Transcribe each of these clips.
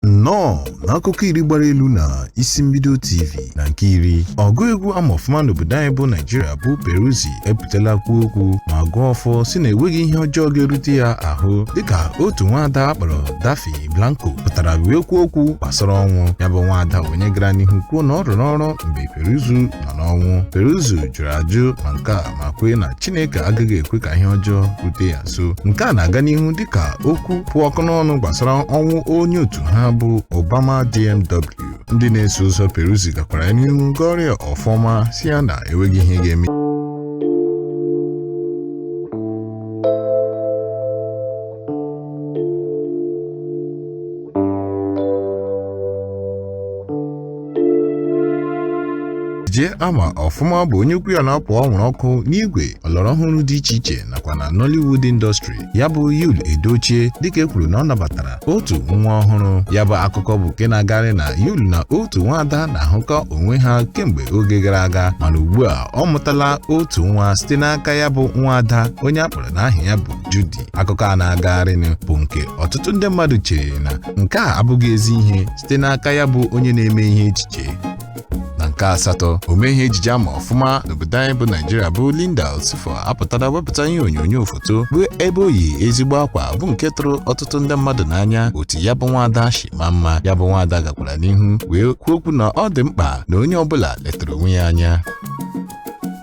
nnọọ n'akụkọ iri gbara elu na isi mbido tv na nke iri ọgụ egwu ama ọfụma n'obodo anyị bụ naijiria bụ peruzzi epụtala kwuo okwu ma gọọ ọfọ sị na enweghị ihe ọjọọ ga-erute ya ahụ dịka otu nwaada a kpọrọ daffy blanco pụtara wee kwuo okwu gbasara ọnwụ ya bụ nwaada onye gara n'ihu kwuo na ọ rụrụ ọrụ mgbe peruzzi nọ n'ọnwụ peruzzi jụrụ ajụ ma nke a ma kwee na chineke agaghị ekwe ka ihe ọjọọ rute ya nso nke a na-aga n'ihu dịka okwu kpụ ọkụ n'ọnụ gbasara ọnwụ onye otu ha bụ Obama DMW ndị na-eso ụzọ Peruzzi gakwara ya n'ihu gọrọ ya ọfọ ma sị ya na enweghị ihe ga-eme jee ama ọfụma bụ onye okwu ya na-apụ ọnwụrụ ọkụ n'igwe ọlọrọ ọhụrụ dị iche iche nakwa na Nollywood industry ya bụ Yul Edochie dịka e kwuru na ọ nabatara otu nwa ọhụrụ ya bụ akụkọ bụ nke na-agarị na Yul na otu nwaada na-ahụkọ onwe ha kemgbe oge gara aga mana ugbu a ọ mụtala otu nwa site n'aka ya bụ nwaada onye a kpọrọ n'aha ya bụ Judy akụkọ a na-agagharịnụ bụ nke ọtụtụ ndị mmadụ chere na nke a abụghị ezi ihe site n'aka ya bụ onye na-eme ihe ejije na nke asatọ omee ihe ejije ama ọfụma n'obodo anyị bụ naijiria bụ linda osifo apụtara wepụta ihe onyonyo foto bụ ebe o yi ezigbo akwa bụ nke tụrụ ọtụtụ ndị mmadụ n'anya otu ya bụ nwaada shi maa mma ya bụ nwaada gakwara n'ihu wee kwuo okwu na ọ dị mkpa na onye ọbụla letara onwe ya anya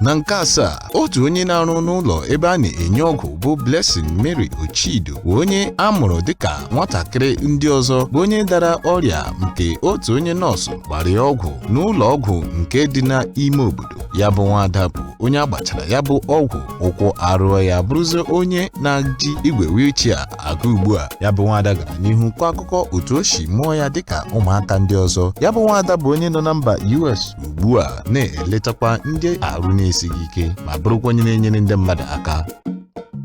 na nke asaa otu onye na-arụ n'ụlọ ebe a na-enye ọgwụ bụ Blessing Mary Ocheido bụ onye a mụrụ dịka nwatakịrị ndị ọzọ bụ onye dara ọrịa nke otu onye nọọsụ gbara ya ọgwụ n'ụlọ ọgwụ nke dị n'ime obodo ya bụ nwaada bụ onye a gbachara ya bụ ọgwụ ụkwụ arụọ ya bụrụzie onye na-eji igwe wheelchair aga ugbu a, ya bụ nwaada gara n'ihu kọọ akụkọ otu o si mụọ ya dịka ụmụaka ndị ọzọ. Ya bụ nwaada bụ onye nọ na mba US ugbu a na-eletakwa ndị arụ na-esighị ike ma bụrụkwa onye na-enyere ndị mmadụ aka.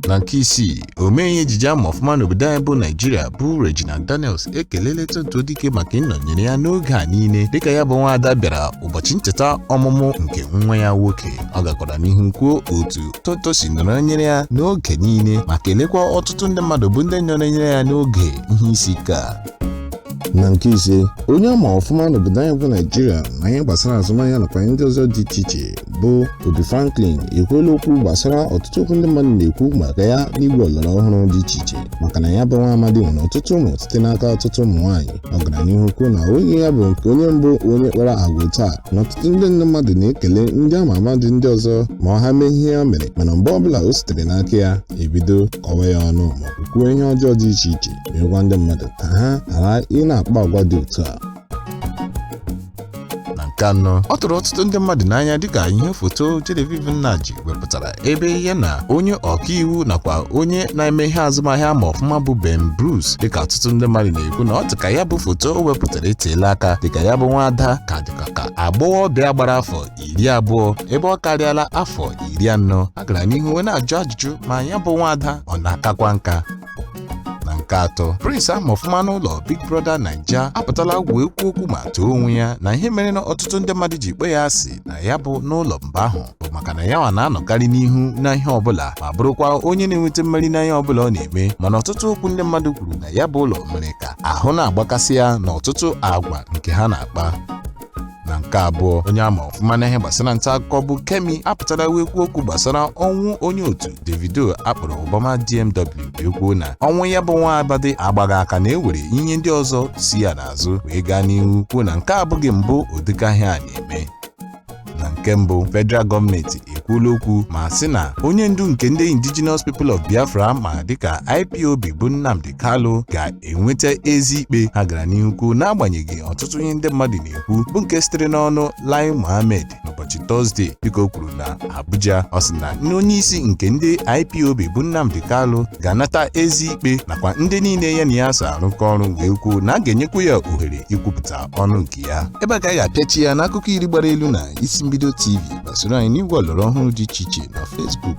Na nke isii, omee ihe ejije ama ọfụma n'obodo anyị bụ Naijiria bụ Regina Daniels ekelele Tonto Dikeh maka ịnọnyere ya n'oge a niile dịka ya bụ nwaada bịara ụbọchị ncheta ọmụmụ nke nwa ya nwoke. Ọ gakwara n'ihu kwuo otu Tonto si nọrọnyere ya n'oge niile ma kelekwa ọtụtụ ndị mmadụ bụ ndị nọrọnyere ya n'oge ihe isi ike a na nke ise onye ama ọfụma n'obodo anyị bụ naijiria na ihe gbasara azụmahịa nakwa ndị ọzọ dị iche iche bụ ubi franklin ekwuola okwu gbasara ọtụtụ okwu ndị mmadụ na-ekwu maka ya n'igwe ọlọrọ ọhụrụ dị iche iche maka na ya bụ nwa amadi nwere ọtụtụ ụmụ site n'aka ọtụtụ ụmụ nwaanyị ọ gara n'ihu kwuo na ọ bụghị ya bụ nke onye mbụ onye kpara agwa otu a na ọtụtụ ndị nne mmadụ na-ekele ndị ama ama dị ndị ọzọ ma ọ ha mee ihe ya mere mana mgbe ọbụla o sitere n'aka ya ebido kọwa ya ọnụ ma kwuo ihe ọjọọ dị iche iche wee gwa ndị mmadụ ka ha ghara ị na-akpa agwa dị otu a na nke anọ ọ tụrụ ọtụtụ ndị mmadụ n'anya dịka ihe foto Genevieve Nnaji wepụtara ebe ya na onye ọkaiwu nakwa onye na-eme ihe azụmahịa ama ọfụma bụ Ben Bruce dịka ọtụtụ ndị mmadụ na-ekwu na ọ dịka ya bụ foto o wepụtara eteela aka dịka ya bụ nwaada ka dịka ka agbọghọbịa gbara afọ iri abụọ ebe ọ karịala afọ iri anọ a gara n'ihu wee na-ajụ ajụjụ ma ya bụ nwaada ọ na-akakwa nka na nke atọ Prince ama ọfụma n'ụlọ Big Brother Naija apụtala wee kwuo okwu ma too onwe ya na ihe mere na ọtụtụ ndị mmadụ ji kpọ ya asị na ya bụ n'ụlọ mgbe ahụ bụ maka na yanwa na-anọkarị n'ihu na ihe ọbụla ma bụrụkwa onye na-enweta mmeri na ihe ọbụla ọ na-eme mana ọtụtụ okwu ndị mmadụ kwuru na ya bụ ụlọ mere ka ahụ na-agbakasị ya na ọtụtụ agwa nke ha na-akpa na nke abụọ onye ama ọfụma na ihe gbasara nta akụkọ bụ Kemi apụtara wee kwuo okwu gbasara ọnwụ onye otu Davido akpọrọ Obama DMW wee kwuo na ọnwụ ya bụ nwa amadị agbaghị aka na enwere ihe ndị ọzọ si ya n'azụ wee gaa n'ihu kwuo na nke a abụghị mbụ ụdịka ihe a na-eme na nke mbụ federal gọọmenti ekwuola okwu ma sị na onye ndu nke ndị indigenous people of biafra ama dịka ipob bụ nnamdi Kalu ga-enweta ezi ikpe ha gara n'ihu kwuo n'agbanyeghị ọtụtụ ihe ndị mmadụ na-ekwu bụ nke sitere n'ọnụ Lai Mohammed n'ụbọchị Tọzdee dịka o kwuru na Abuja ọ sị na nne onye isi nke ndị IPOB bụ Nnamdi Kalu ga-anata ezi ikpe nakwa ndị niile ya na ya so arụkọ ọrụ wee kwuo na a ga-enyekwa ya ohere ikwupụta ọnụ nke ya ebe a ka anyị ga-apịachi ya n'akụkọ iri gbara elu na isi mbido TV gbasoro anyị n'igwe ọlọrọ ọhụrụ dị iche iche na Facebook